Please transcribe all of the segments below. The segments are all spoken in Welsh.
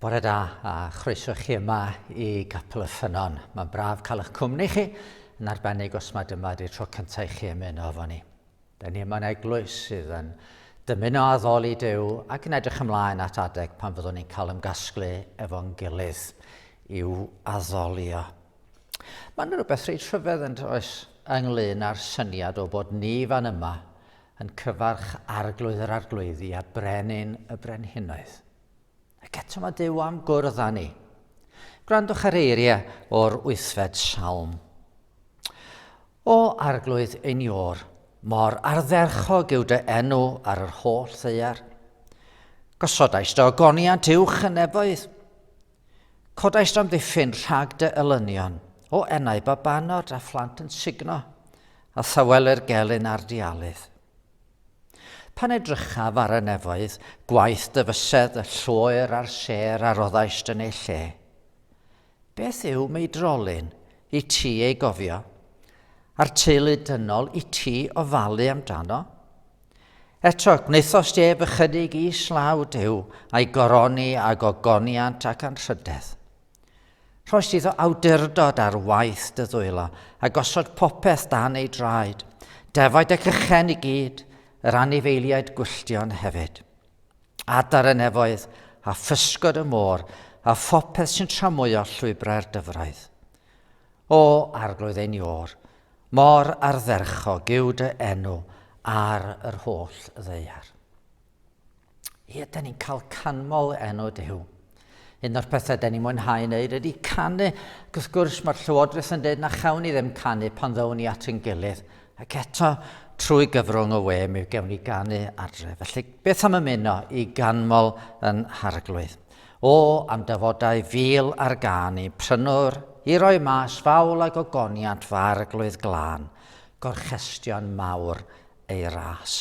Bore da a chroeso chi yma i Gapel y Ffynon. Mae'n braf cael eich cwmni chi, yn arbennig os mae dyma ydy'r tro cyntaf i chi ymuno efo ni. Da ni yma'n eglwys sydd yn dymuno addoli Dyw ac yn edrych ymlaen at adeg pan fyddwn ni'n cael ymgasglu efo'n gilydd i'w addolio. Mae'n rhywbeth reit rhyfedd yn oes ynglyn â'r syniad o bod ni fan yma yn cyfarch arglwydd yr arglwyddi a brenin y brenhinoedd. Ac eto mae Dyw am gwrdd â ni. Gwrandwch ar eiriau o'r wythfed salm. O arglwydd ein ior, mor ardderchog yw dy enw ar yr holl ddeiar. Gosodais dy ogoniant uwch yn nefoedd, Codais amddiffyn rhag dy elynion, o enau babanod a phlant yn sugno, a thawelir gelyn ar dy alydd. Pan edrychaf ar y nefoedd, gwaith dy fysedd, y lloer a'r sêr a roddaist yn ei lle. Beth yw mei drolyn, i ti ei gofio, a'r teulu dynol i ti ofalu amdano? Eto, gwnaethost Jeb ychydig i slaw Duw, a'i goroni ag ogoniant ac anrhydedd. Rhoes iddo awdurdod ar waith dy ddwylo, a gosod popeth dan ei draed, defaid ac ychen i gyd, yr anifeiliaid gwylltion hefyd. Adar y nefoedd, a physgod y môr, a phopeth sy'n tramwyo llwybrau'r dyfroedd. O Arglwydd ein Iôr, mor ardderchog yw dy enw ar yr holl ddeiar. Ie, da ni'n cael canmol enw dy hyw. Un o'r pethau da ni'n mwynhau wneud ydy canu, ac wrth gwrs mae'r llywodraeth yn dweud na chawn ni ddim canu pan ddown ni at yn gilydd, ac eto trwy gyfrwng y we mi gewn ni ganu adre. Felly beth am ymuno i ganmol yn harglwydd? O, am dyfodau fil ar gân i prynwr i roi mas fawl a gogoniant fy Arglwydd glân, gorchestion mawr ei ras.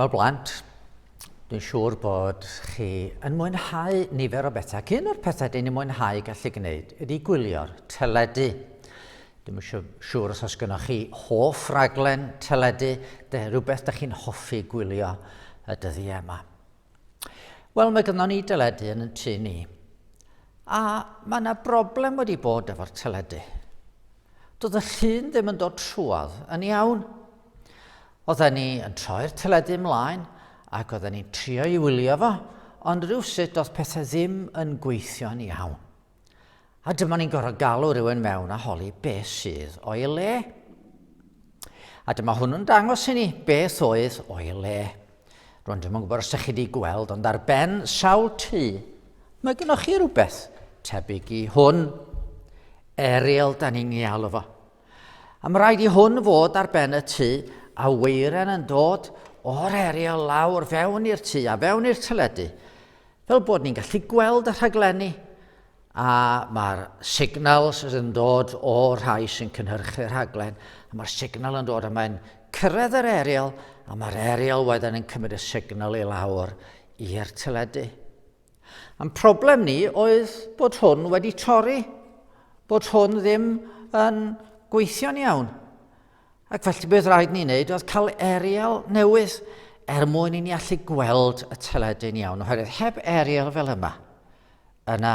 Wel blant, dwi'n siŵr bod chi yn mwynhau nifer o bethau. Cyn o'r pethau dyn ni'n mwynhau gallu gwneud ydy gwylio'r teledu. Dwi'n siŵr os oes gynnwch chi hoff raglen teledu, de, rhywbeth da chi'n hoffi gwylio y dyddiau yma. Wel, mae gyda ni deledu yn y tu ni. A mae yna broblem wedi bod efo'r teledu. Doedd y llun ddim yn dod trwodd yn iawn. Oedden ni yn troi'r teledu ymlaen ac oedden ni'n trio i wylio fo, ond rhywsut doedd pethau ddim yn gweithio'n iawn. A dyma ni'n gorfod galw rhywun mewn a holi be sydd o'i le. A dyma hwnnw'n dangos i ni beth oedd o'i le. Rwy'n ddim yn gwybod os ydych chi wedi gweld, ond ar ben sawl tu, mae gennych chi rhywbeth tebyg i hwn. Ariel, da ni'n ei alw fo. A mae rhaid i hwn fod ar ben y tŷ a weiren yn dod o'r eriel lawr fewn i'r tŷ a fewn i'r teledu. Fel bod ni'n gallu gweld y rhaglenni a mae'r signals yn dod o rhai sy'n cynhyrchu rhaglen a mae'r signal yn dod a mae'n cyrraedd yr eriel a mae'r eriel wedyn yn cymryd y signal i lawr i'r teledu. Ein problem ni oedd bod hwn wedi torri, bod hwn ddim yn gweithio'n iawn. Ac felly beth rhaid ni wneud oedd cael eriel newydd er mwyn i ni allu gweld y teledu'n iawn, oherwydd heb eriel fel yma, yna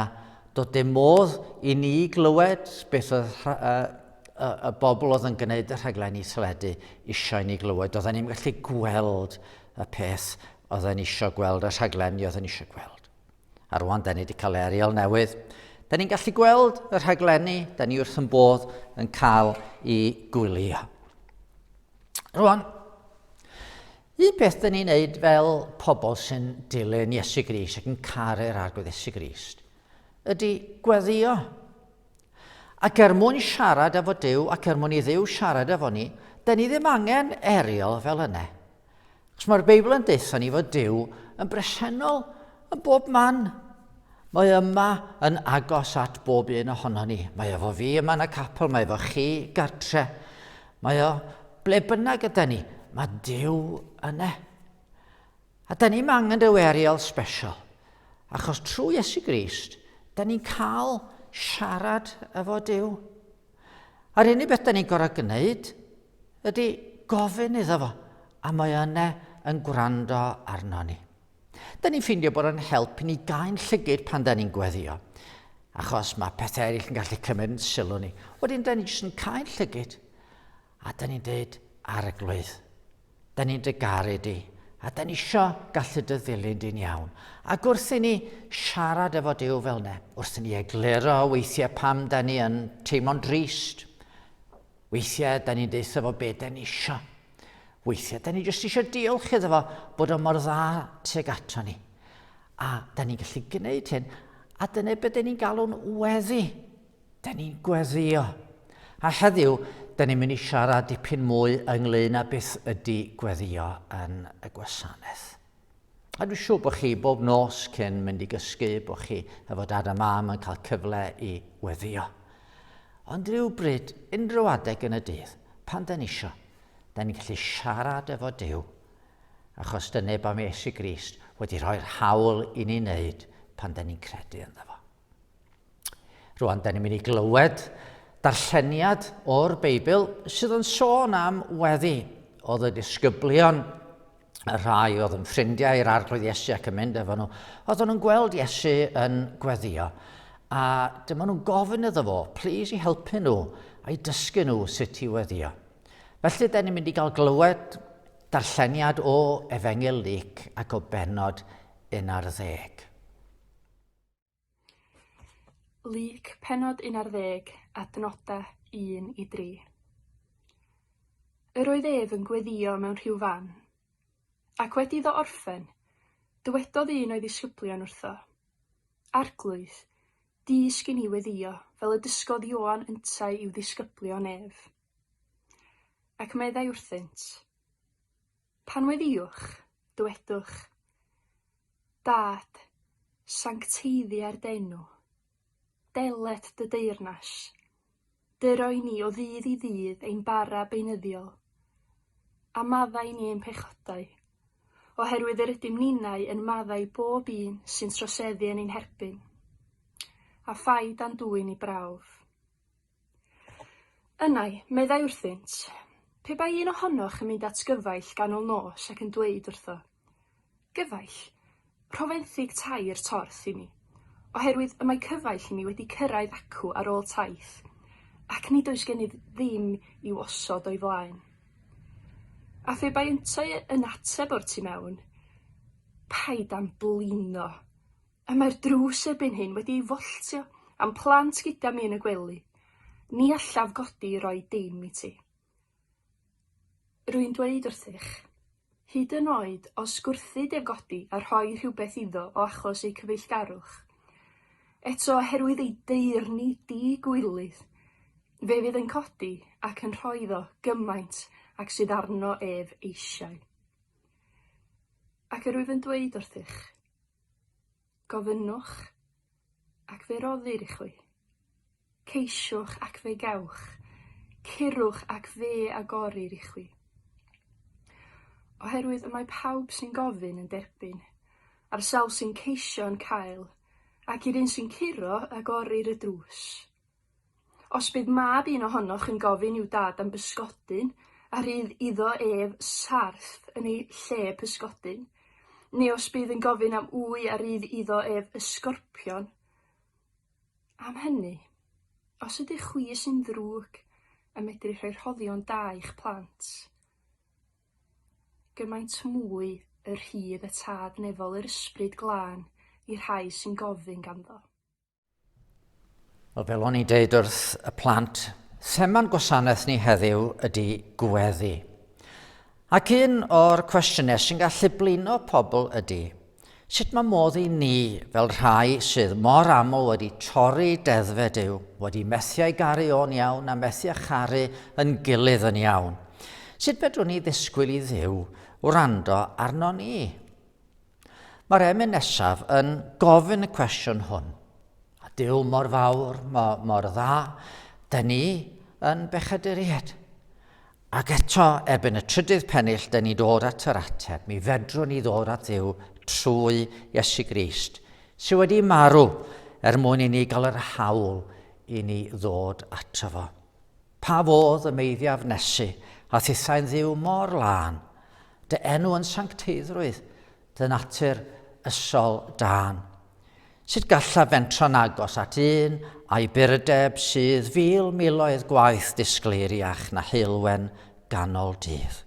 dod dim modd i ni glywed beth oedd y, y, y bobl oedd yn gwneud y rhaglenni teledu eisiau ni glywed. Doedden ni'n gallu gweld y peth Oedden ni isio gweld y rhaglenni oedden ni isio gweld. A rwan, da ni wedi cael ariel newydd. Da ni'n gallu gweld y rhaglenni, da ni wrth yn bodd yn cael i gwylio. Rwan, un peth da ni'n neud fel pobl sy'n dilyn Iesu Grist ac yn caru'r arglwydd Iesu Grist, ydy gweddio. Ac er mwyn siarad efo Duw, ac er mwyn i Dduw siarad efo ni, da ni ddim angen eriol fel yna. Chos mae'r Beibl yn deutha ni fod Duw yn bresennol yn bob man. Mae yma yn agos at bob un ohono ni. Mae efo fi yma yn y capel, mae efo chi gartre. Mae o ble bynnag yda ni, mae Duw yna. A da ni'm angen rhyw aerial sbesial, achos trwy Iesu Grist, da ni'n cael siarad efo Dyw. A'r unig beth da ni'n gorau gwneud ydy gofyn iddo fo, a mae yna yn gwrando arno ni. Da ni'n ffeindio bod yn help i ni gael llygyd pan da ni'n gweddio, achos mae pethau eraill yn gallu cymryd yn sylw ni. Wedyn da ni jyst yn cael llygyd, a da ni'n dweud arglwydd. Da ni'n dy garu di, a da ni isio gallu dy ddilyn di'n iawn. Ac wrth i ni siarad efo Duw fel ne, wrth i ni egluro weithiau pam da ni yn teimlo'n drist, weithiau da ni'n deutha fo be da ni isio. Weithiau da ni jyst isio diolch iddo fo bod o mor dda tuag ato ni. A da ni'n gallu gwneud hyn, a dyna beth da ni'n galw'n weddi. Da ni'n gweddio. A heddiw, da ni'n mynd i siarad dipyn mwy ynglyn â beth ydy gweddio yn y gwasanaeth. A dwi'n siŵr bod chi bob nos cyn mynd i gysgu, bod chi efo dad a mam yn cael cyfle i weddio. Ond rhywbryd, unrhyw adeg yn y dydd, pan da ni isio, da ni'n gallu siarad efo Dyw, achos dyna beth mae Iesu Grist wedi rhoi'r hawl i ni wneud pan da ni'n credu ynddo fo. Rwan, da ni'n mynd i glywed darlleniad o'r Beibl sydd yn sôn am weddi. Oedd y disgyblion, y rhai oedd yn ffrindiau i'r arglwydd Iesu ac yn mynd efo nhw, oedd nhw'n gweld Iesu yn gweddio. A dyma nhw'n gofyn iddo fo, plis i helpu nhw a'i dysgu nhw sut i weddio. Felly, da ni'n mynd i gael glywed darlleniad o Efengil Lyc ac o benod un ar ddeg. Lug pennod 11, adnodau 1 i 3. Yr oedd ef yn gweddio mewn rhyw fan, ac wedi iddo orffen, dywedodd un o'i ddisgyblion wrtho, Arglwydd, dysg i ni weddio, fel y dysgodd Ioan yntau i'w ddisgyblion ef. Ac meddai wrthynt, Pan weddiwch, dywedwch, Dâd, sancteiddia'r d'enw. Delet dy deyrnas. Dy roi ni o ddydd i ddydd ein bara beunyddiol. A maddau ni ein pechodau, oherwydd yr ydym ninau yn maddau bob un sy'n troseddu yn ein herbyn. A phai dan dwyn i brawf. Ynai, meddai wrthynt, pe bai un ohonoch yn mynd at gyfaill ganol nos ac yn dweud wrtho, 'Gyfaill, rho fenthyg tair torth i mi, oherwydd y mae cyfaill i mi wedi cyrraedd acw ar ôl taith, ac nid oes gennyf ddim i'w osod o'i flaen. A phe bai yntau yn ateb o'r tu mewn, 'Paid â'm blino! A mae'r drws erbyn hyn wedi ei folltio a'm plant gyda mi yn y gwely. Ni allaf godi i roi dim i ti. Rwy'n dweud wrthych, hyd yn oed os gwrthid ef godi a rhoi rhywbeth iddo o achos eu cyfeillgarwch, eto oherwydd ei deyrni di-gwilydd, fe fydd yn codi ac yn rhoi iddo gymaint ag sydd arno ef eisiau. Ac yr wyf yn dweud wrthych, Gofynnwch, ac fe roddir i chwi. Ceisiwch, ac fe gewch. Curwch, ac fe agorir i chwi. Oherwydd y mae pawb sy'n gofyn yn derbyn, a'r sawl sy'n ceisio yn cael, ac i'r un sy'n curo, agorir y drws. Os bydd mab un ohonoch yn gofyn i'w dad am bysgodyn a rhydd iddo ef sarff yn ei lle pysgodyn, neu os bydd yn gofyn am ŵy a rhydd iddo ef ysgorpion, am hynny, os ydych chwi sy'n ddrwg yn medru rhoi rhoddion da i'ch plant, gymaint mwy y rhydd y Tad nefol yr Ysbryd Glân i'r rhai sy'n gofyn ganddo. Wel, fel o'n i'n deud wrth y plant, thema'n gwasanaeth ni heddiw ydy gweddi. Ac un o'r cwestiynau sy'n gallu blino pobl ydy, sut mae modd i ni, fel rhai sydd mor aml wedi torri deddfed yw, wedi methu ei garu o'n iawn a methu a charu yn gilydd yn iawn, sut fedrwn ni ddisgwyl i ddiw wrando arno ni? Mae'r emyn nesaf yn gofyn y cwestiwn hwn. A Dyw mor fawr, mor, mor dda, da ni yn bechaduriaid. Ac eto, erbyn y trydydd pennill, da ni dod at yr ateb. Mi fedrwn ni ddod at Dduw trwy Iesu Grist, sydd wedi marw er mwyn i ni gael yr hawl i ni ddod ato fo. Pa fodd y meiddiaf nesu a thithau'n ddiw mor lân? Dy enw yn sancteiddrwydd, dy natur ysol dân. Sut gallaf fentro'n agos at un a'i burdeb sydd fil miloedd gwaith disgleiriach na heulwen ganol dydd?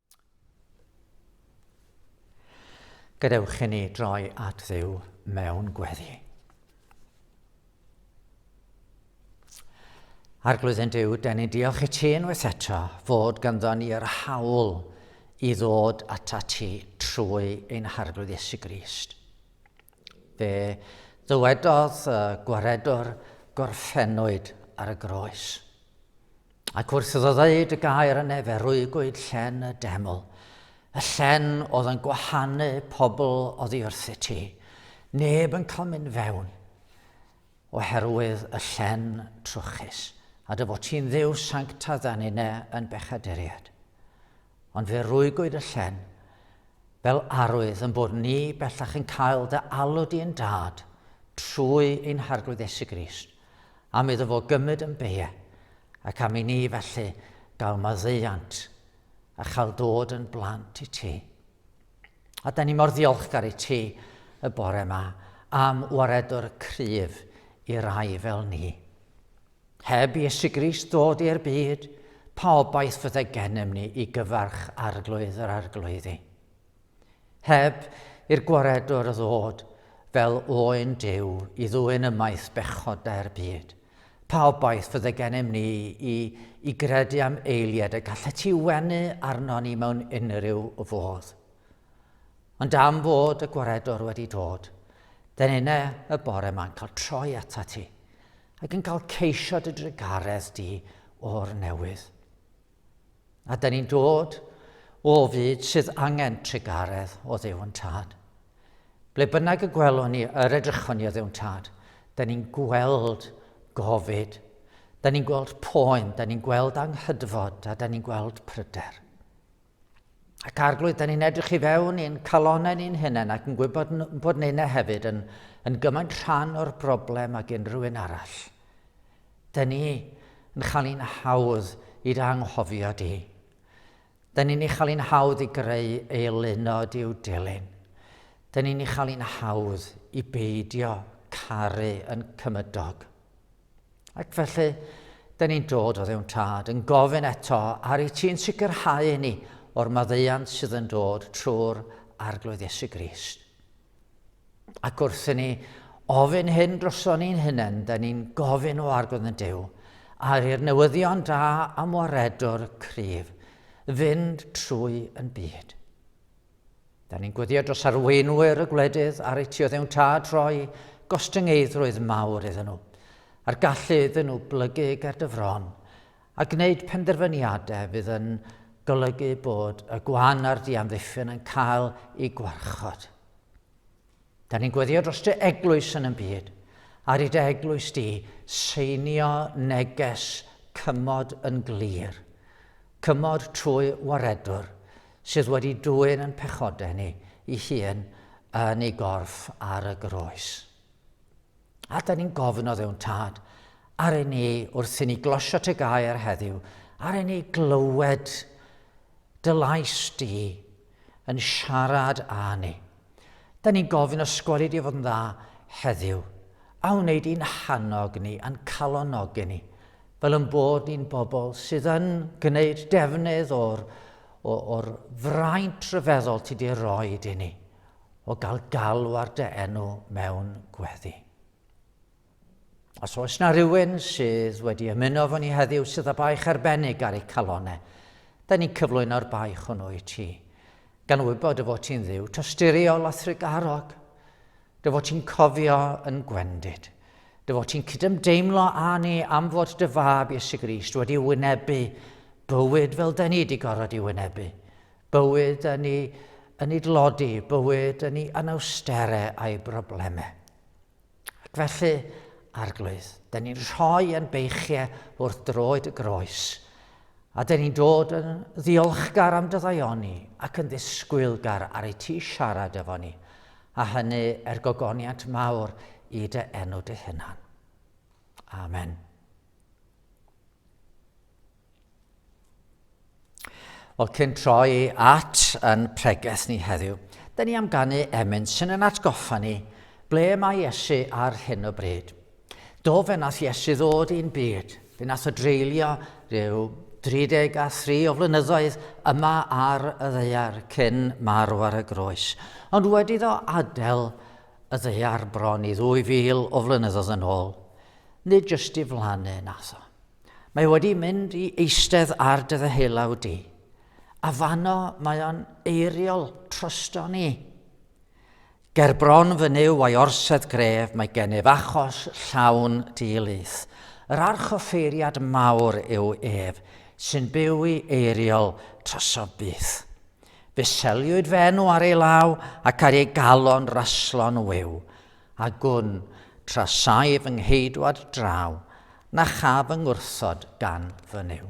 Gadewch i ni droi at ddiw mewn gweddi. Arglwydd yn Dyw, dyn ni'n diolch i ti unwaith eto fod ganddo ni yr hawl i ddod ata ti trwy ein harglwydd Iesu Grist. Fe ddywedodd y gwaredwr gorffennwyd ar y groes. Ac wrth iddo ddeud y gair yn efe rwygwyd llen y deml, y llen oedd yn gwahanu pobl oddi wrth y ti. Neb yn cael mynd fewn oherwydd y llen trwchus, a dy fod ti'n ddiw sancta dda nine yn bechaduriad. Ond fe rwygwyd y llen, fel arwydd yn bod ni bellach yn cael dy alw di yn dad trwy ein harglwydd Esu Grist, am iddo fo gymryd yn bee ac am i ni felly gael maddeuant a chael dod yn blant i ti. A da ni mor ddiolchgar i ti y bore yma am waredwr cryf i rai fel ni. Heb Iesu Grist ddod i'r byd, pa obaith fydde gennym ni i gyfarch arglwydd yr arglwyddi? Heb i'r Gwaredwr ddod fel oen Duw i ddwyn ymaith bechod dae'r byd, pa obaith fydde gennym ni i, i gredu am eiliad y gallet ti wenu arnon ni mewn unrhyw fodd? Ond am fod y Gwaredwr wedi dod, den yna y bore ma'n cael troi ata ti, ac yn cael ceisio dy drugaredd di o'r newydd. A da ni'n dod o fyd sydd angen trugaredd o ddew yn tad. Ble bynnag y gwelwn ni, yr edrychon ni o ddew yn tad, da ni'n gweld gofid, da ni'n gweld poen, da ni'n gweld anghydfod, a da ni'n gweld pryder. Ac arglwydd, da ni'n edrych i fewn i'n calonau ni'n hunain ac yn gwybod bod neu hefyd yn, yn gymaint rhan o'r broblem ag unrhyw un arall. Dŷn ni yn chael ein hawdd i'r anghofio di. Dŷn ni'n ei chael ein hawdd i greu ei lunod i'w dilyn. Dŷn ni'n ei chael ein hawdd i beidio caru yn cymydog. Ac felly, dŷn ni'n dod o ddewn tad yn gofyn eto ar i ti'n sicrhau i ni o'r maddeuant sydd yn dod trwy'r Arglwydd Iesu Grist. Ac wrth i ni ofyn hyn droson ni'n hunain, da ni'n gofyn o argodd yn dew, ar i'r newyddion da am waredwr cryf fynd trwy yn byd. Da ni'n gwyddio dros arweinwyr y gwledydd ar eu tioddew'n tad rhoi gostyngeiddrwydd mawr iddyn nhw, a'r gallu iddyn nhw blygu ger dy fron, A gwneud penderfyniadau fydd yn golygu bod y gwan a'r diamddiffyn yn cael eu gwarchod. Da ni'n gweddio dros dy eglwys yn y byd, ar i dy eglwys di seinio neges cymod yn glir, cymod trwy waredwr sydd wedi dwyn yn pechodau ni i hun yn ei gorff ar y groes. A da ni'n gofyn o ddewn tad, ar ei ni wrth i ni glosio te gair heddiw, ar ei ni glywed dy lais di yn siarad â ni. Da ni'n gofyn o sgweli di fod yn dda heddiw, a wneud i'n hannog ni, a'n calonogi ni, fel yn bod ni'n bobl sydd yn gwneud defnydd o'r, o'r fraint rhyfeddol ti di roed i ni. o gael galw ar dy enw mewn gweddi. Os oes na rhywun sydd wedi ymuno fo ni heddiw sydd â baich arbennig ar eu calonau, da ni'n cyflwyno'r baich hwnnw i ti, gan wybod y fod ti'n ddiw tosturiol a thrugarog, dy fod ti'n cofio yn gwendid, dy fod ti'n cydymdeimlo â ni am fod dy fab Iesu Grist wedi wynebu bywyd fel da ni wedi gorfod i wynebu, Bywyd yn ei yn ei dlodi, bywyd yn ei anawstere a'i broblemau. Ac felly, arglwydd, da ni'n rhoi yn beichiau wrth droed y groes, a da ni'n dod yn ddiolchgar am dyddaioni ac yn ddisgwylgar ar ei ti siarad efo ni, a hynny er gogoniant mawr i dy enw dy hunan. Amen. Wel, cyn troi at yn pregeth ni heddiw, da ni am ganu emyn sy'n yn atgoffa ni ble mae Iesu ar hyn o bryd. Do fe nath Iesu ddod i'n byd, fe nath o dreulio rhyw 33 o flynyddoedd yma ar y ddeiar cyn marw ar y groes, ond wedi ddo adael y ddaear bron i ddwy fil o flynyddoedd yn ôl, nid jyst i flannu natho. Mae wedi mynd i eistedd ar dy ddeheulaw di, a fanno mae o'n eiriol trosto ni. Ger bron fy nyw a'i orsedd gref mae gennyf achos llawn di-lith. Yr archoffeiriad mawr yw ef, sy'n byw i eiriol troso byth. Fe seliwyd fy enw ar ei law ac ar ei galon raslo'n wyw, a gwn tra saif fy ngheidwad draw, na cha fy ngwrthod gan fy nyw.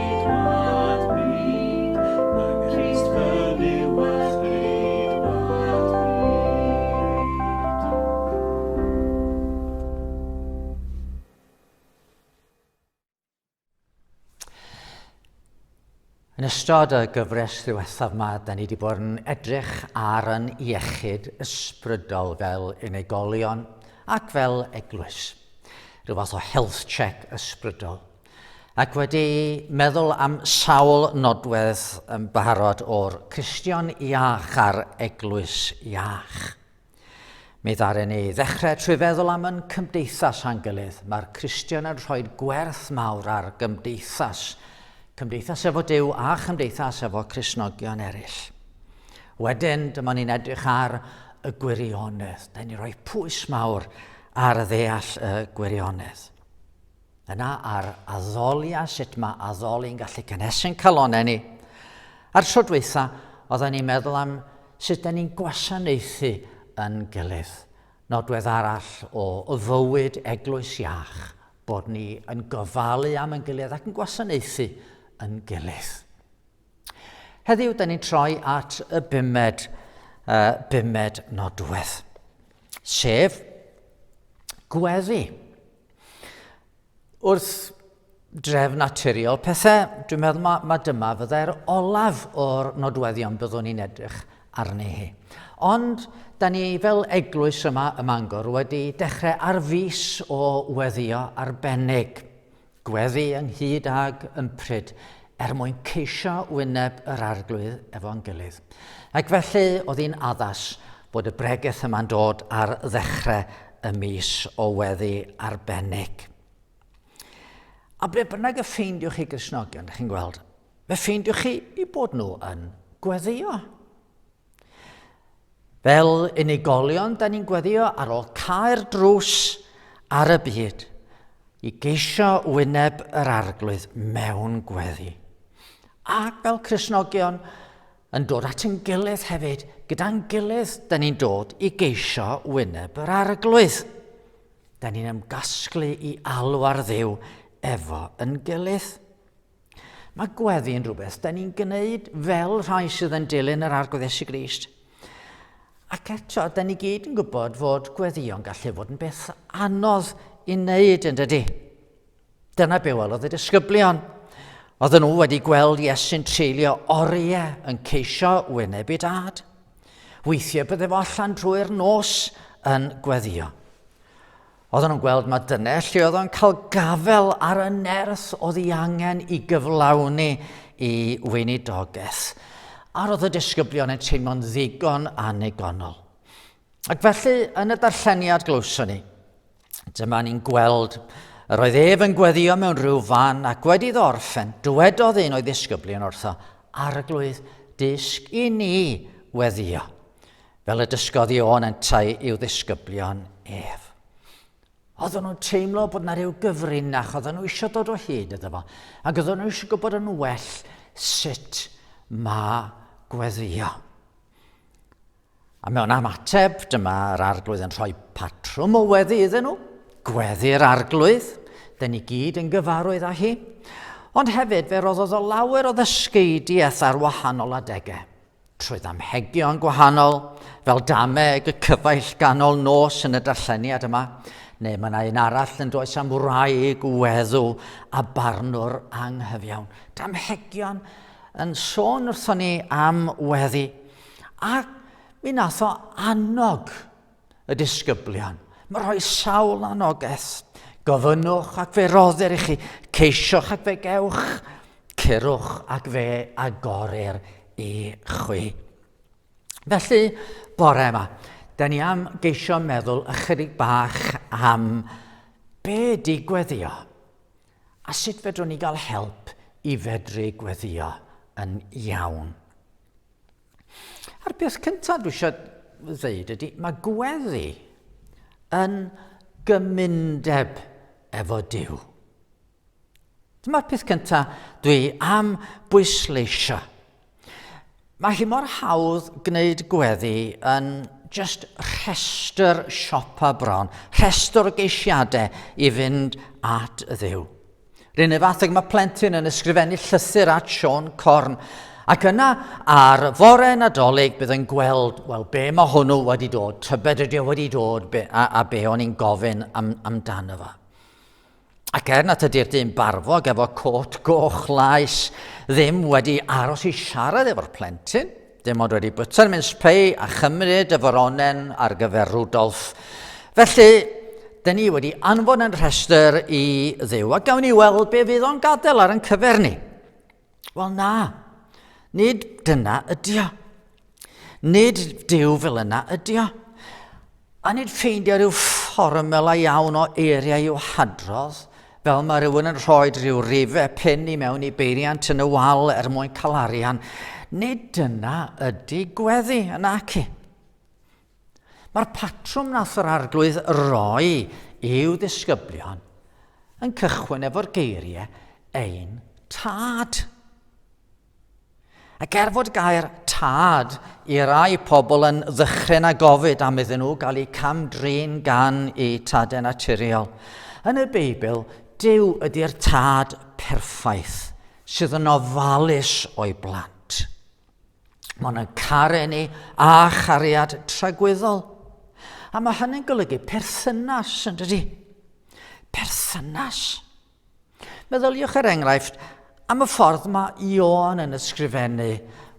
Yn ystod y gyfres ddiwethaf yma, da ni wedi bod yn edrych ar yn iechyd ysbrydol fel unigolion ac fel eglwys. Rhyw fath o health check ysbrydol. Ac wedi meddwl am sawl nodwedd yn barod o'r Cristion iach a'r Eglwys iach. Mi ddaren ni ddechrau trwy feddwl am yn cymdeithas a'n gilydd. Mae'r Cristion yn rhoi gwerth mawr ar gymdeithas. Cymdeithas efo Dyw a chymdeithas efo Cresnogion eraill. Wedyn, dyma ni'n edrych ar y gwirionedd. Da ni roi pwys mawr ar ddeall y gwirionedd. Yna ar addoliau sut mae addoli'n gallu cynhesu'n calonau ni. A'r tro dweitha, oedden ni'n meddwl am sut da ni'n gwasanaethu yn gilydd. Nodwedd arall o fywyd eglwys iach, bod ni yn gofalu am yn gilydd ac yn gwasanaethu yn gilydd. Heddiw, da ni'n troi at y bumed, uh, bumed nodwedd, sef gweddi. Wrth dref naturiol pethau, dwi'n meddwl mae, mae dyma fyddai'r olaf o'r nodweddion byddwn ni'n edrych arni hi. Ond, da ni fel eglwys yma ym Mangor wedi dechrau ar fus o weddio arbennig. Gweddi ynghyd ag ympryd, er mwyn ceisio wyneb yr Arglwydd efo'n gilydd. Ac felly oedd hi'n addas bod y bregeth yma'n dod ar ddechrau y mis o weddi arbennig. A ble bynnag y ffeindiwch chi Gristnogion, chi'n gweld, fe ffeindiwch chi i bod nhw yn gweddio. Fel unigolion, da ni'n gweddio ar ôl cael drws ar y byd i geisio wyneb yr arglwydd mewn gweddi. Ac fel Cresnogion, yn dod at yn gilydd hefyd, gyda'n gilydd, da ni'n dod i geisio wyneb yr arglwydd. Da ni'n ymgasglu i alw ar ddew efo yn gilydd. Mae gweddi yn rhywbeth da ni'n gwneud fel rhai sydd yn dilyn yr arglwydd Esu Grist. Ac eto, da ni gyd yn gwybod fod gweddio'n gallu fod yn beth anodd i wneud yn dydy. Dyna be welodd y disgyblion. Oedd nhw wedi gweld Iesu'n treulio oriau yn ceisio wynebu dad. Weithiau bydde fo allan drwy'r nos yn gweddio. Oedden nhw'n gweld mae dyne lle oedd o'n cael gafel ar y nerth oedd ei angen i gyflawni i weinidogaeth. A roedd y disgyblion yn teimlo'n ddigon annigonol. Ac felly, yn y darlleniad glywson ni, dyma ni'n gweld yr oedd ef yn gweddio mewn rhyw fan ac wedi iddo orffen, dywedodd un o'i ddisgyblion wrtho, arglwydd, dysg i ni weddio. fel y dysgodd Ion yntau i'w ddisgyblion ef. Oedden nhw'n teimlo bod yna rhyw gyfrinach, oedden nhw eisiau dod o hyd iddo fo, ac oedden nhw eisiau gwybod yn well sut mae gweddio. A mewn am ateb, dyma'r arglwydd yn rhoi patrwm o weddi iddyn nhw, gweddi'r arglwydd, dyn ni gyd yn gyfarwydd â hi, ond hefyd fe roddodd o lawer o ddysgeidiaeth ar wahanol adegau. Trwy ddamhegion gwahanol, fel dameg y cyfaill ganol nos yn y darlleniad yma, neu mae yna un arall yn does am wraig, weddw a barnwr anghyfiawn. Damhegion yn sôn wrthon ni am weddi, a mi nath o annog y disgyblion. Mae rhoi sawl anogaeth. Gofynnwch ac fe roddir i chi. Ceisioch ac fe gewch. Cyrwch ac fe agorir i chwi. Felly, bore yma, da ni am geisio meddwl ychydig bach am be di gweddio a sut fedrwn ni gael help i fedru gweddio yn iawn. A'r peth cyntaf dwi eisiau ddeud ydy, mae gweddi yn gymundeb efo Dyw. Dyma'r peth cyntaf dwi am bwysleisio. Mae hi mor hawdd gwneud gweddi yn just rhestr siopa bron, rhestr o geisiadau i fynd at ddew. Ryn y fath ag mae plentyn yn ysgrifennu llysur at Sean Corn. Ac yna, ar fore nadolig, bydd yn gweld, wel, be mae hwnnw wedi dod, tybed ydy o wedi dod, be, a, a be o'n i'n gofyn am, amdano fo. Ac er nad ydy'r dyn barfog efo cot goch laes ddim wedi aros i siarad efo'r plentyn, Dim ond wedi bwyta'r mince pie a chymryd y foronen ar gyfer Rudolf. Felly, dyn ni wedi anfon yn rhestr i ddew, a gawn ni weld be fydd o'n gadael ar yn cyfer ni. Wel na, nid dyna ydio. Nid dew fel yna ydio. A nid ffeindio rhyw fformela iawn o eiriau i'w hadrodd, fel mae rhywun yn rhoi rhyw rife pin i mewn i beiriant yn y wal er mwyn cael arian. Nid dyna ydy gweddi yn aci. Mae'r patrwm nath yr arglwydd roi i'w ddisgyblion yn cychwyn efo'r geiriau ein tad. Ac er fod gair tad i rai pobl yn ddychryn a gofyd am iddyn nhw gael eu cam-drin gan eu tadau naturiol, yn y Beibl, Dyw ydy'r tad perffaith sydd yn ofalus o'i blant. Mae'n yn caru ni a chariad tragwyddol. A mae hynny'n golygu perthynas, yn dydy? Perthynas. Perthynas. Meddyliwch er enghraifft am y ffordd mae Ion yn ysgrifennu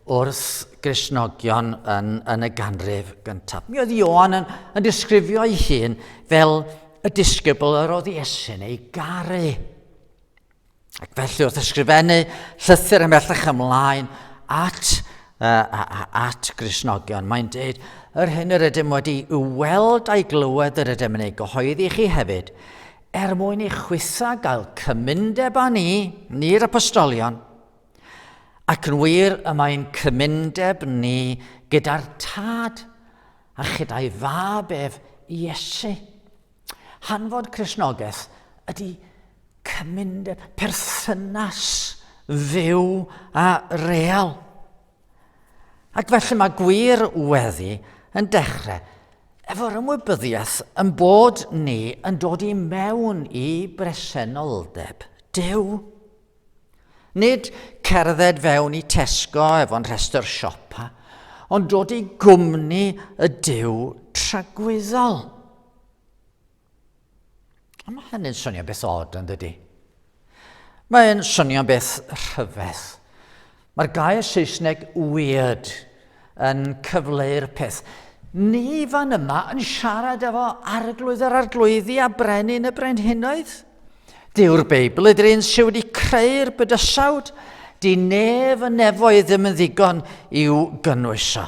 wrth Gristnogion yn, yn y ganrif gyntaf. Mi oedd Ion yn, yn disgrifio ei hun fel y disgybl yr oedd Iesu'n ei garu. Ac felly wrth ysgrifennu llythyr ymhellach ymlaen at, uh, at Gristnogion, mae'n dweud, yr hyn yr ydym wedi i'w weld a'i glywed yr ydym yn ei gyhoeddi chi hefyd, Er mwyn i chwitha gael cymundeb â ni, ni'r apostolion, ac yn wir y mae'n cymundeb ni gyda'r Tad a chyda'i fab ef Iesu. Hanfod Cresnogaeth ydy cymundeb perthynas fyw a real. Ac felly mae gwir weddi yn dechrau efo'r ymwybyddiaeth yn bod ni yn dod i mewn i bresenoldeb Dyw. Nid cerdded fewn i Tesco efo'n rhestr siopa, ond dod i gwmni y Dyw tragwyddol. Ond mae hynny'n swnio beth od, yn dydy? Mae'n swnio beth rhyfedd. Mae'r gair Saesneg weird yn cyfleu'r peth. Ni fan yma yn siarad efo arglwydd yr arglwyddi a brenin y brenhinoedd. Dyw'r Beibl ydy'r un sydd wedi creu'r bydysawd. Di nef y nefoedd ddim yn ddigon i'w gynnwys o.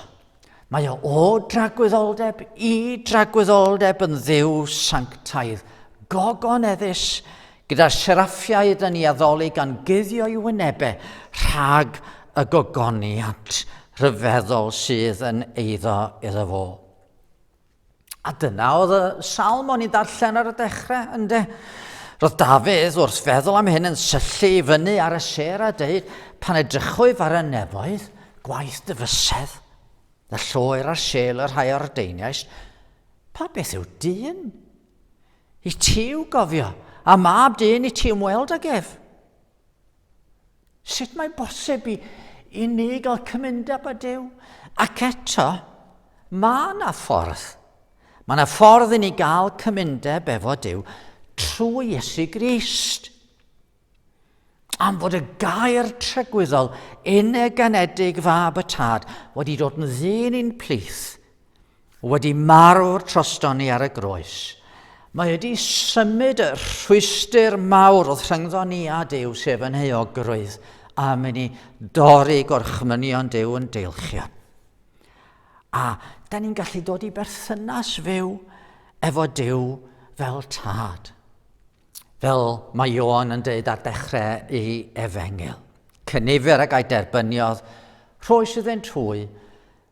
Mae o o dragwyddoldeb i dragwyddoldeb yn ddiw sanctaidd, gogon eddus, gyda seraffiaid yn ei addoli gan guddio i wynebau rhag y gogoniant rhyfeddol sydd yn eiddo iddo fo. A dyna oedd y salm o'n i'n darllen ar y dechrau, ynddo. Roedd Dafydd wrth feddwl am hyn yn syllu i fyny ar y ser a dweud, pan edrychwyf ar y nefoedd, gwaith dy fysedd, y lloer a'r sel y rhai o'r deiniais, pa beth yw dyn? I ti yw gofio, a mab dyn i ti ymweld ag ef. Sut mae bosib i, i ni gael cymundeb â Duw? Ac eto, mae yna ffordd. Mae yna ffordd i ni gael cymundeb efo Duw trwy Iesu Grist. Am fod y gair trygwyddol uneganedig fab y tad wedi dod yn ddyn i'n plith, Wedi marw'r trostoni ar y groes, mae wedi symud y rhwystr mawr oedd rhyngddo ni a Duw, sef yn euogrwydd, a mynd i dorri gorchmynion Duw yn deilchion. A da ni'n gallu dod i berthynas fyw efo Dyw fel tad. Fel mae Ion yn dweud ar dechrau i efengil. Cynifer ag a'i derbyniodd, rhoi sydd yn trwy,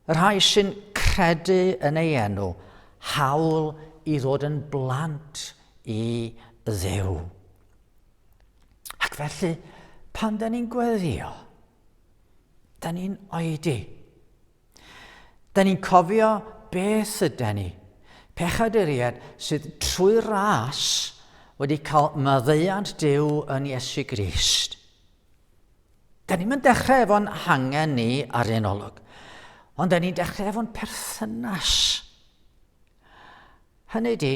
Y rhai sy'n credu yn ei enw, hawl i ddod yn blant i ddew. Ac felly, pan da ni'n gweddio, da ni'n oedi. Da ni'n cofio beth ydy ni. Pechaduriad sydd trwy ras wedi cael maddeuant Dyw yn Iesu Grist. Da ni'n mynd dechrau efo'n hangen ni ar un olwg, ond da ni'n dechrau efo'n perthynas. Hynny di,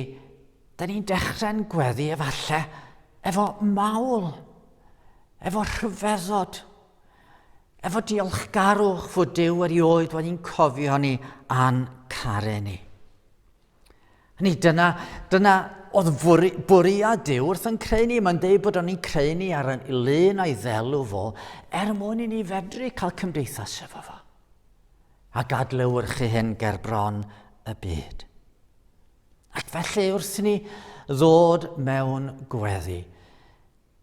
da ni'n dechrau'n gweddi efallai efo mawl, efo rhyfeddod, efo diolchgarwch fod Dyw erioed wedi'n cofio ni a'n caru ni. Hynny, dyna, dyna oedd fwri, bwriad Dyw wrth yn creu ni. Mae'n dweud bod o'n i'n creu ni ar yn lun a'i ddelw fo, er mwyn i ni fedru cael cymdeithas efo fo. A gadlewyrchu hyn ger bron y byd. Ac felly wrth ni ddod mewn gweddi,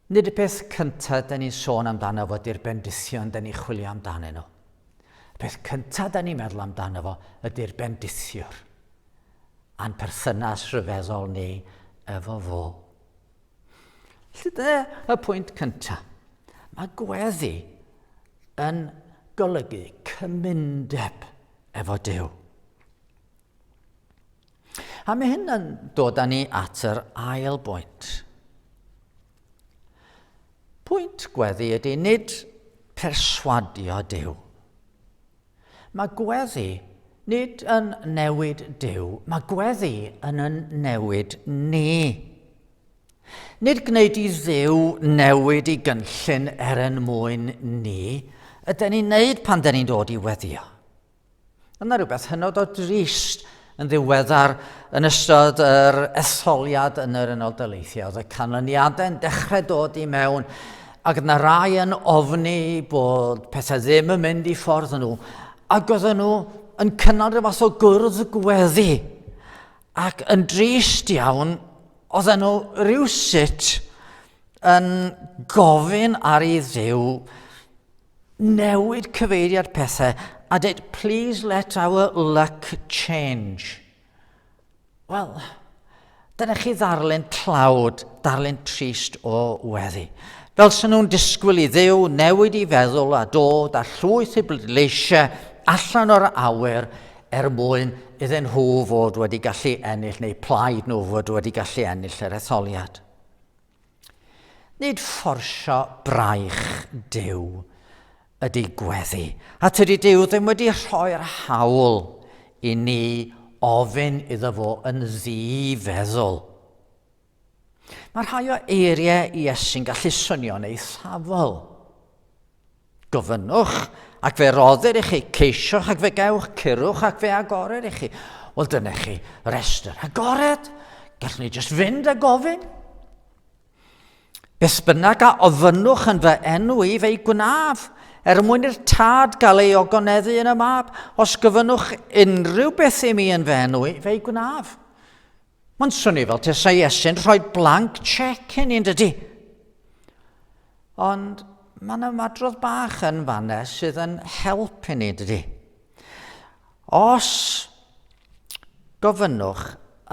Nid y peth cyntaf da ni'n sôn amdano fo ydy'r bendithion da ni'n chwilio amdanyn nhw. Y peth cyntaf da ni'n meddwl amdano fo ydy'r bendithiwr a'n perthynas rhyfeddol ni efo fo. Felly dyna y pwynt cyntaf. Mae gweddi yn golygu cymundeb efo Dyw. A mae hyn yn dod â ni at yr ail bwynt. Pwynt gweddi ydy nid perswadio Dyw. Mae gweddi nid yn newid Dyw, mae gweddi yn yn newid ni. Nid gwneud i ddew newid i gynllun er yn mwyn ni, ydy ni'n neud pan dyn ni'n dod i weddio. Yna rhywbeth hynod o drist yn ddiweddar yn ystod yr etholiad yn yr Unol Daleithiau. Oedd y canlyniadau'n dechrau dod i mewn ac yna rai yn ofni bod pethau ddim yn mynd i ffordd nhw ac oedd nhw yn cynnal rhyw fath o gwrdd gweddi ac yn drist iawn oedd nhw rhywsut yn gofyn ar ei ddew Newid cyfeiriad pethau a dweud please let our luck change. Wel, dyna chi ddarlun tlawd, darlun trist o weddi. Fel sy'n nhw'n disgwyl i ddew newid i feddwl a dod a llwyth i bleidleisiau allan o'r awyr er mwyn iddyn nhw fod wedi gallu ennill neu plaid nhw fod wedi gallu ennill yr etholiad. Nid fforsio braich Duw ydy gweddi, a tydi Duw ddim wedi rhoi'r hawl i ni ofyn iddo fo yn ddi-feddwl. Mae rhai o eiriau Iesu'n gallu swnio'n eithafol. Gofynnwch, ac fe roddir i chi, ceisiwch ac fe gewch, cyrwch ac fe agorir i chi. Wel, dyna chi restr agored. Gallwn ni jyst fynd a gofyn. Beth bynnag a ofynnwch yn fy enw i fe'i gwnaf, er mwyn i'r tad gael ei ogoneddu yn y mab, os gyfynnwch unrhyw beth i mi yn fy enw i fe'i gwnaf. Mae'n swnio fel tesa Iesu'n rhoi blank check i ni, yn dydy? Ond mae yna madrodd bach yn fanna sydd yn help i ni, dydy? Os gofynnwch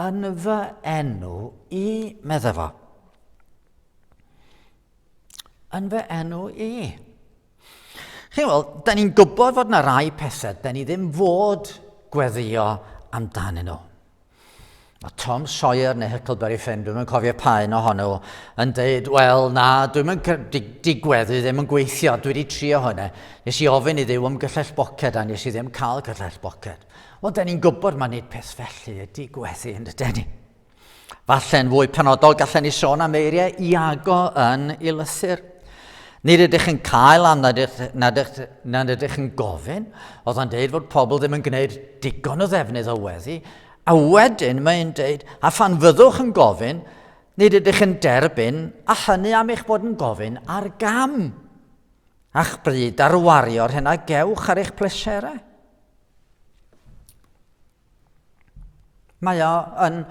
yn fy enw i, medda fo. Yn fy enw i. Chi'n weld, da ni'n gwybod fod yna rai pethau, da ni ddim fod gweddio amdanyn nhw. Mae Tom Sawyer neu Huckleberry Finn, dwi'n yn cofio pa un ohonyn nhw, yn dweud, wel na, dwi'n yn digweddu ddim yn gweithio, dwi wedi trio hwnna. Nes i ofyn i ddiw am gyllell boced a nes i ddim cael cyllell boced. Wel, da ni'n gwybod mae nid peth felly y digweddu yn y deni. Falle'n fwy penodol gallen ni sôn am eiriau Iago yn ei lythyr. Nid ydych yn cael am nad ydych, nad ydych, nad ydych yn gofyn, oedd o'n deud fod pobl ddim yn gwneud digon o ddefnydd o weddi, a wedyn mae'n deud, a phan fyddwch yn gofyn, nid ydych yn derbyn, a hynny am eich bod yn gofyn ar gam, a'ch bryd ar wario'r hyn a gewch ar eich pleserau. Mae o yn,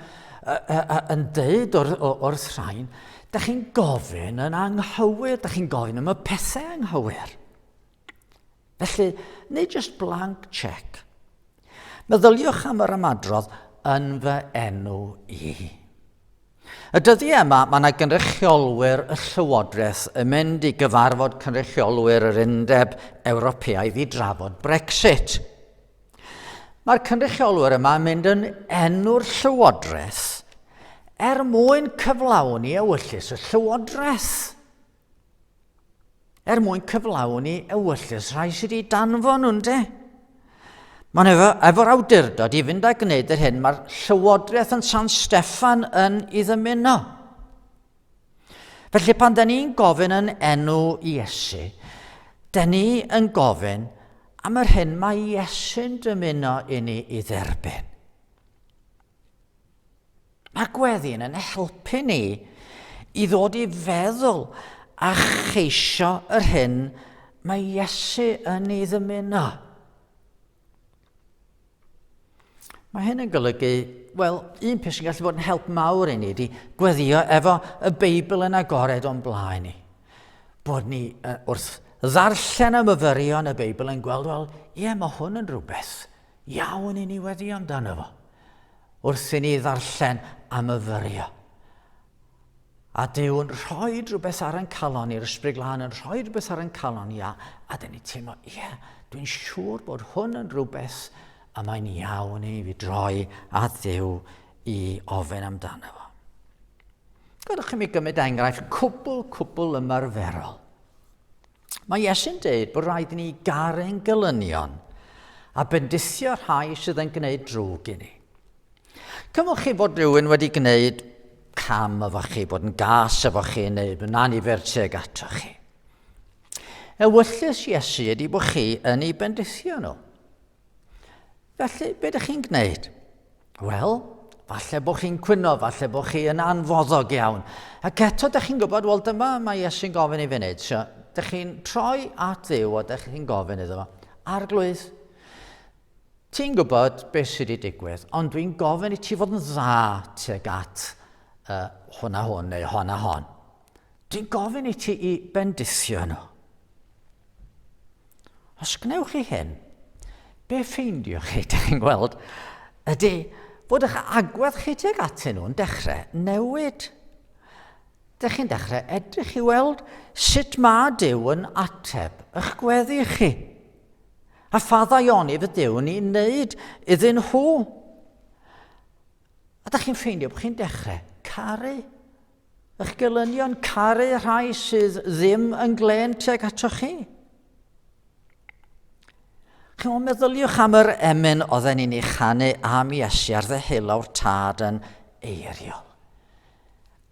yn dweud wrth, wrth rhain, da chi'n gofyn yn anghywir, da chi'n gofyn am y pethau anghywir. Felly, neu just blank check. Meddyliwch am yr ymadrodd yn fy enw i. Y dyddi yma, mae yna gynrychiolwyr y Llywodraeth yn mynd i gyfarfod cynrychiolwyr yr Undeb Ewropeaidd i drafod Brexit. Mae'r cynrychiolwyr yma yn mynd yn enw'r llywodraeth er mwyn cyflawni ewyllus y llywodraeth. Er mwyn cyflawni ewyllus rhai sydd wedi danfon nhw'n de. Mae'n efo, efo'r awdurdod i fynd a gwneud yr hyn mae'r llywodraeth yn San Steffan yn ei ddymuno. Felly pan da ni'n gofyn yn enw Iesu, da ni yn gofyn am yr hyn mae Iesu'n dymuno i ni i dderbyn. Mae gweddi'n yn helpu ni i ddod i feddwl a cheisio yr hyn mae Iesu yn ei ddymuno. Mae hyn yn golygu, wel, un peth sy'n gallu bod yn help mawr i ni ydy gweddio efo y Beibl yn agored o'n blaen ni. Bod ni uh, wrth ddarllen am yfyrion y Beibl yn gweld, wel, ie, mae hwn yn rhywbeth iawn i ni weddio amdano fo. Wrth i ni ddarllen am yfyrio. A Duw'n rhoi rhywbeth ar ein calon ni, yr Ysbryd Glân yn rhoi rhywbeth ar ein calon ni, a, a dyn ni teimlo, ie, yeah, dwi'n siŵr bod hwn yn rhywbeth a mae'n iawn i fi droi at ddew i ofyn amdano fo. Gadwch chi mi gymryd enghraifft cwbl, cwbl ymarferol. Mae Iesu'n dweud bod rhaid i ni garu'n gylynion a bendithio rhai sydd yn gwneud drwg i ni. Cymwch chi bod rhywun wedi gwneud cam efo chi, bod yn gas efo chi neu yn anifer teg ato chi. Ewyllus Iesu ydy bod chi yn ei bendithio nhw. Felly, be ydych chi'n gwneud? Wel, falle bod chi'n cwyno, falle bod chi yn anfoddog iawn. Ac eto, ydych chi'n gwybod, wel dyma mae Iesu'n gofyn i fi wneud. So, ydych chi'n troi at ddew a ydych chi'n gofyn iddo fo, arglwydd, Ti'n gwybod beth sydd wedi digwydd, ond dwi'n gofyn i ti fod yn dda tuag at uh, hwn a hwn neu hon a hon. Dwi'n gofyn i ti i bendithio nhw. Os gwnewch chi hyn, be ffeindio chi, da chi'n gweld, ydy bod eich agwedd chi tuag atyn nhw'n dechrau newid. Da chi'n dechrau edrych i weld sut mae Dyw yn ateb eich gweddi chi. A pha ddaionydd ydyw ni'n wneud iddyn nhw? A da chi'n ffeindio bod chi'n dechrau caru eich gelynion, caru rhai sydd ddim yn glen tuag ato chi. Chi'n o'n meddyliwch am yr emyn oedd yn ei chanu am Iesu ar ddeheulawr tad yn eiriol.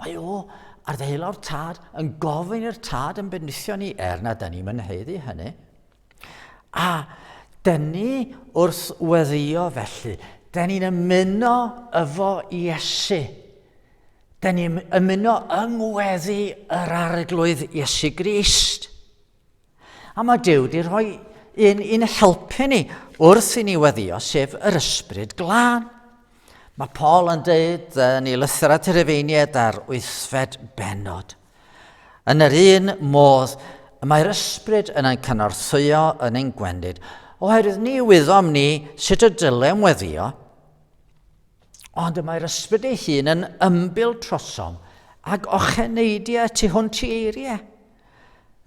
Mae o ar ddeheulawr tad yn gofyn i'r tad yn benithio ni er nad da ni'n mynheddu hynny. A dyn ni wrth weddio felly, dyn ni'n ymuno efo Iesu. Dyn ni'n ymuno yng ngweddi yr arglwydd Iesu Grist. A mae Dyw wedi rhoi un i'n helpu ni wrth i ni weddio, sef yr ysbryd glân. Mae Paul yn dweud yn ei lythyr at yr efeiniad ar wythfed benod – Yn yr un modd, y mae'r ysbryd yn ein cynorthwyo yn ein gwendid, oherwydd ni wyddom ni sut y dylem weddio, ond y mae'r ysbryd ei hun yn ymbil trosom ag ocheneidiau tu hwnt i eiriau.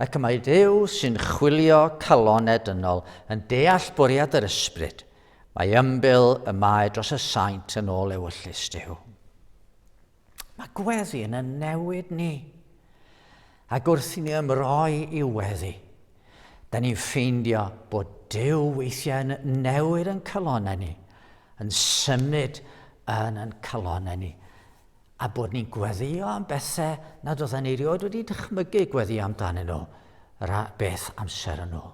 Ac y mae Dyw sy'n chwilio calon edynol yn deall bwriad yr ysbryd, mae ymbil y mae dros y saint yn ôl ewyllus Dyw. Mae gweddi yn y newid ni. Ac wrth i ni ymroi i weddi, da ni'n ffeindio bod Dyw weithiau yn newid yn calonau ni, yn symud yn yn calonau ni, a bod ni'n gweddio am bethau nad oedden ni rioed wedi dychmygu gweddi amdanyn nhw yr beth amser yn ôl.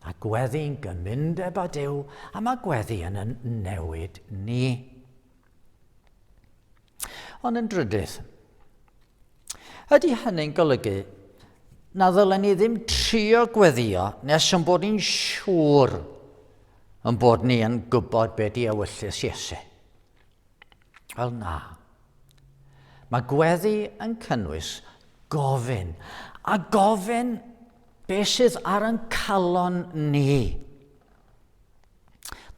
A gweddi'n gymundeb â Dyw, a mae gweddi yn yn newid ni. Ond yn drydydd, ydy hynny'n golygu na ddylen ni ddim trio gweddio nes yn bod ni'n siŵr yn bod ni yn gwybod be di ewyllys Iesu? Wel na. Mae gweddi yn cynnwys gofyn, a gofyn beth sydd ar yn calon ni.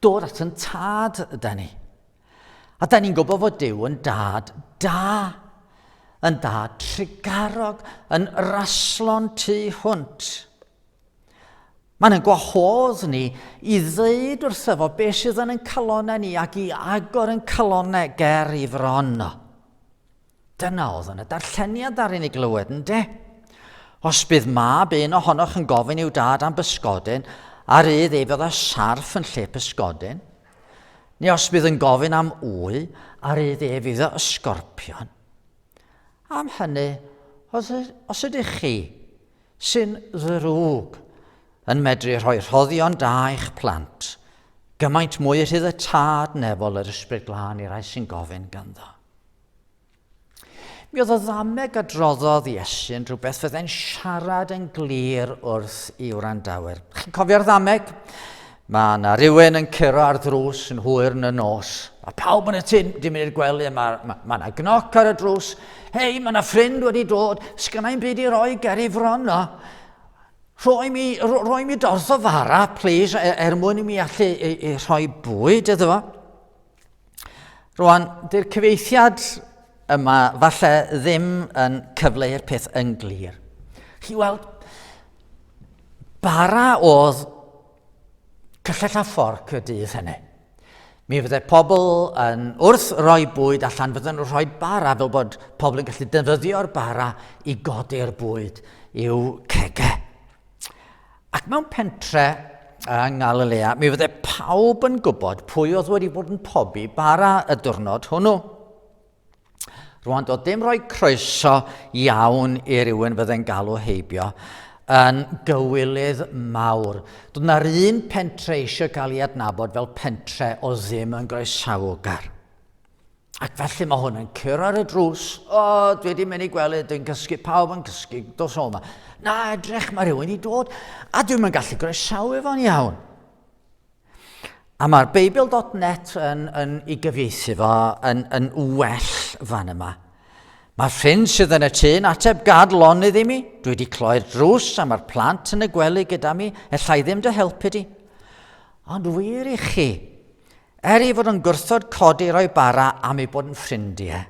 Dod at yn tad yda ni. A da ni'n gwybod fod Dyw yn dad da, yn dad trigarog, yn raslon tu hwnt. Mae'n yn gwahodd ni i ddeud wrtho fo beth sydd yn yn calonau ni ac i agor yn calonau ger i fron. Dyna oedd yn y darlleniad ddaru ni glywed, ynde? Os bydd mab un ohonoch yn gofyn i'w dad am bysgodyn, a rydd ei fydda sarff yn lle pysgodyn, neu os bydd yn gofyn am wy, a rydd ei fydda ysgorpion. Am hynny, os, os ydych chi sy'n ddrwg yn medru rhoi rhoddion da i'ch plant, gymaint mwy rhydd y tad nefol yr ysbryd glân i rai sy'n gofyn ganddo. Mi oedd y ddameg a droddodd Iesu'n rhywbeth fyddai'n siarad yn glir wrth i wrandawyr. Chi'n cofio'r ddameg? Mae yna rhywun yn curo ar ddrws yn hwyr yn y nos. Mae pawb yn y tyn, dim mynd i'r gwely, mae yna ma, ma gnoc ar y drws. Hei, mae yna ffrind wedi dod, sgynnau'n byd i roi ger i fron o. Rhoi mi, rhoi mi dorth o fara, please, er, er mwyn i mi allu i, i rhoi bwyd iddo fo. Rwan, dy'r cyfeithiad yma falle ddim yn cyfleu'r peth yn glir. Chi weld, bara oedd cyllell a fforc y dydd hynny. Mi fydde pobl yn wrth roi bwyd allan, fydden nhw'n rhoi bara fel bod pobl yn gallu defnyddio'r bara i godi'r bwyd i'w cegau. Ac mewn pentre yng Ngalilea, mi fydde pawb yn gwybod pwy oedd wedi bod yn pobi bara y diwrnod hwnnw. Rwan, doedd dim rhoi croeso iawn i rywun fydde'n galw heibio yn gywilydd mawr. Doedd na'r un pentre eisiau cael ei adnabod fel pentre o ddim yn groesawgar. Ac felly mae hwn yn cyrra ar y drws. O, oh, dwi wedi mynd i gwely, dwi'n cysgu, pawb yn cysgu, dos o yma. Na, edrych, mae rhywun wedi dod, a dwi'n mynd gallu groesawu fo'n iawn. A mae'r Beibl.net yn, yn i gyfieithu fo yn, yn well fan yma. Mae ffrind sydd yn y tŷ yn ateb gad lon iddi mi. Dwi wedi cloi'r drws a mae'r plant yn y gwely gyda mi. Ella i ddim dy helpu di. Ond wir i chi, Er ei fod yn gwrthod codi roi bara am ei bod yn ffrindiau,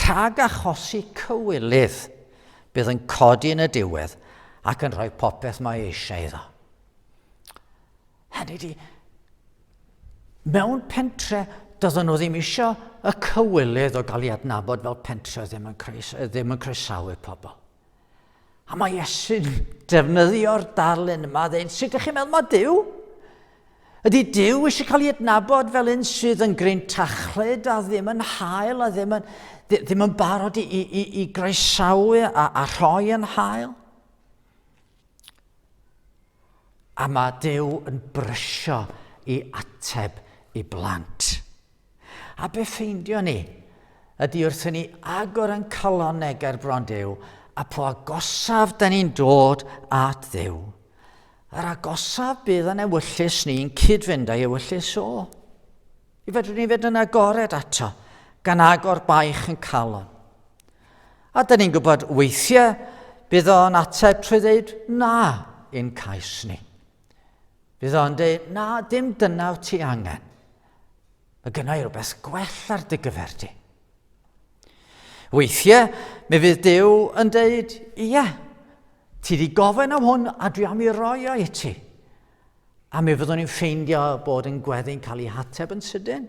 rhag achosi cywilydd, bydd yn codi yn y diwedd ac yn rhoi popeth mae eisiau iddo. Hynny di, mewn pentre, doedden nhw ddim eisiau y cywilydd o gael ei adnabod fel pentre ddim yn, ddim yn croesawu pobl. A mae Iesu'n defnyddio'r darlun yma, dweud, sut ydych chi'n meddwl mae Dyw? Ydy Dyw eisiau cael ei adnabod fel un sydd yn gryn tachlyd a ddim yn hael a ddim yn, ddim yn barod i, i, i, i groesawu a, a rhoi yn hael? A mae Duw yn brysio i ateb i blant. A be ffeindio ni ydy wrth i ni agor yn calon neger bron Duw, a po agosaf da ni'n dod at Dduw, yr agosaf bydd yn ewyllus ni'n cyd-fynd â'i ewyllus o. I fedru ni fyd yn agored ato, gan agor baich yn calon. A dyn ni'n gwybod weithiau bydd o'n ateb trwy ddeud na i'n cais ni. Bydd o'n dweud, na, dim dyna wyt ti angen. Mae gynna i rhywbeth gwell ar dy gyfer ti. Weithiau, mi fydd Dyw yn dweud, ie, ti wedi gofyn am hwn a dwi am i roi o i ti. A mi fyddwn ni'n ffeindio bod yn gweddi'n cael ei hateb yn sydyn.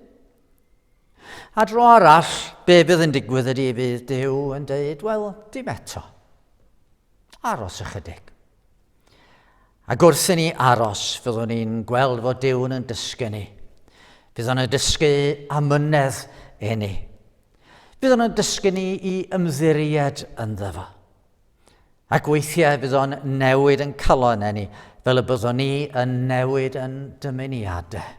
A dro arall, be bydd yn digwydd ydy fydd Dyw yn dweud, wel, dim eto. Aros ychydig. A gwrs i ni aros, fyddwn ni'n gweld fod Dyw yn dysgu ni. Bydd o'n dysgu amynedd i ni. Bydd o'n dysgu ni i ymddiried yn ddefa. Ac weithiau bydd o'n newid yn calon ni, fel y byddwn ni yn newid yn dymuniadau.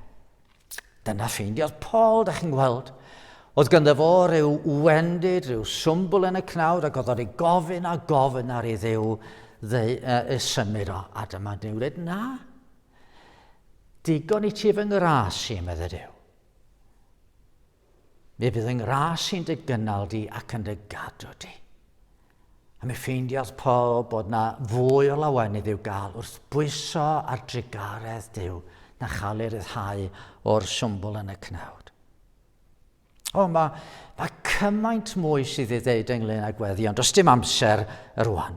Dyna ffeindiodd Paul, da chi'n gweld. Oedd gyda fo rhyw wendid, rhyw swmbl yn y cnawd, ac oedd o'n ei gofyn a gofyn ar ei ddew ddeu, uh, symud o. A dyma Dyw dweud, na, digon i ti fy ngras i, medde Dyw. Mi bydd yng ngras i'n dy gynnal di ac yn dy gadw di. A mi ffeindiodd Paul bod na fwy o lawenydd i'w gael wrth bwyso ar drugaredd Dyw na chael ei ryddhau o'r swmbl yn y cnawd. O, mae, mae cymaint mwy sydd ei ddeud ynglyn â gweddi, ond does dim amser yr rwan.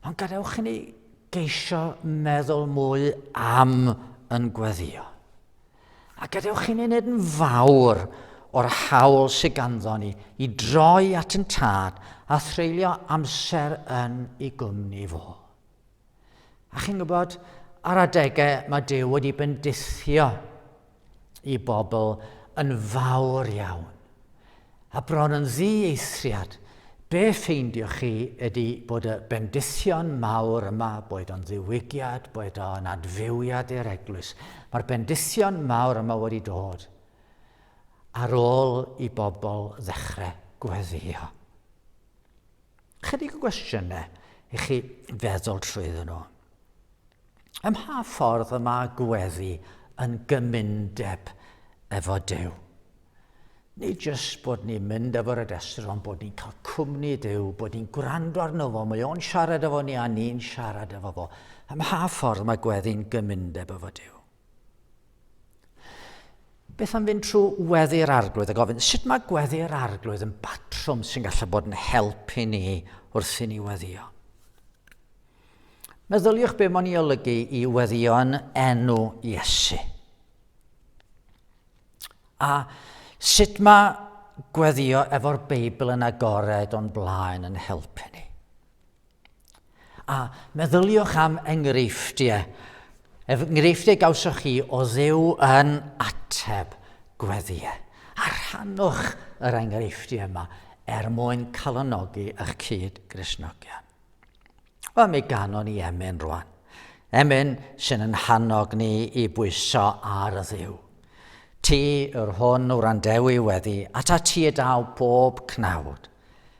Ond gadewch i ni geisio meddwl mwy am yn gweddio. A gadewch chi ni wneud yn fawr o'r hawl sydd ganddo ni i droi at yn tad a threulio amser yn ei gwmni fo. A chi'n gwybod, ar adegau mae Dyw wedi bendithio i bobl yn fawr iawn. A bron yn ddieithriad, be ffeindioch chi ydi bod y bendithion mawr yma, boed o'n ddiwygiad, boed o'n adfywiad i'r eglwys, mae'r bendithion mawr yma wedi dod ar ôl i bobl ddechrau gweddïo. Ychydig o gwestiynau i chi feddwl trwyddyn nhw. Ym mha ffordd y mae gweddi yn gymundeb efo Duw? Nid jyst bod ni'n mynd efo'r adestr, ond bod ni'n cael cwmni Duw, bod ni'n gwrando arno fo, mae o'n siarad efo ni a ni'n siarad efo fo. Ym mha ffordd mae gweddi'n gymundeb efo Duw? Beth am fynd trwy weddi'r arglwydd a gofyn sut mae gweddi'r arglwydd yn batrwm sy'n gallu bod yn help i ni wrth i ni weddio? Meddyliwch be mae'n ei olygu i weddio yn enw Iesu. A sut mae gweddio efo'r Beibl yn agored o'n blaen yn helpu ni? A meddyliwch am enghreifftiau, enghreifftiau gawsoch chi o ddew yn ateb gweddiau. A rhannwch yr enghreifftiau yma er mwyn calonogi eich cyd grisnogion. Wel, mi ganon ni emyn rwan. Emyn sy'n yn hannog ni i bwyso ar y ddew. Ti yr hwn wrandewi wedi, ata ti y daw bob cnawd.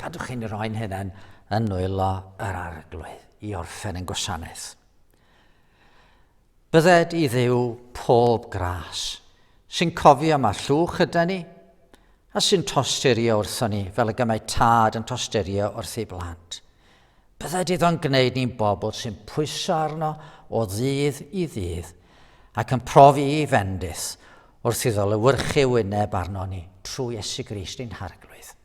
Cadwch chi'n rhoi'n hunain yn nwylo yr arglwydd i orffen yn gwasanaeth. Bydded i ddew pob gras, sy'n cofio mae llwch yda ni, a sy'n tosturio wrthon ni fel y gymau tad yn tosturio wrth ei blant. Bydded iddo'n gwneud ni'n bobl sy'n pwyso arno o ddydd i ddydd ac yn profi i fendith wrth iddo lywyrchu wyneb arno ni trwy Iesu Grist ein harglwydd.